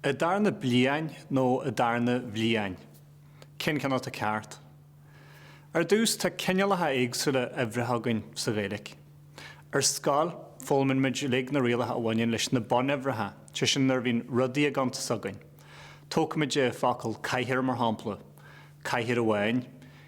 An darna bliadhain nó an darna bhliadhain? Cé'n ceann atá ceart? Ar dtús, tá cineálacha éagsúla uimhreacha againn sa Ghaeilic. Ar scoil, foghlaimíonn muid uilig na rialacha a bhaineann leis na bunuimhreacha, sé sin nuair a bhíonn rudaí á gcuntas againn. Tógfaimid an focal 'cathaoir' mar shampla. Cathaoir amháin.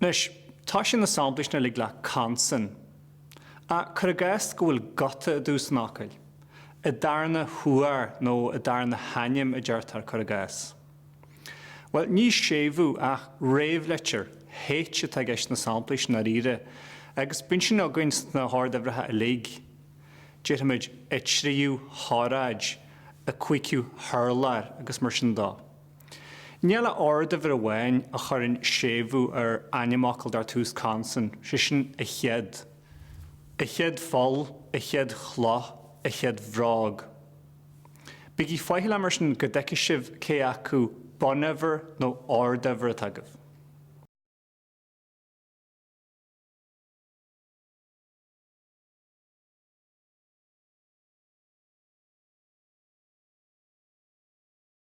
Anois, tosaíonn na samplaí sin uilig le consan. Ach cuir i gcás go bhfuil guta i dtús an fhocail, an darna huair nó an darna hainm a deirtear, cuir i gcás. Bhuel, ní séimhiú ach réamhleitir H atá i gceist sna samplaí sin, dáiríre, agus bíonn sin againn sna horduimhreacha uilig, déarfaimid, an tríú hóráid, an cúigiú hurlár agus mar sin dó. Níl ach orduimhir amháin a chuireann séimhiú ar ainmfhocal dar tús consan, sé sin an chéad, an chéad pholl, an chéad chloch, an chéad bhróg. Bígí faichilleach mar sin go dtuigfidh sibh cé acu bunuimhir nó orduimhir atá agaibh.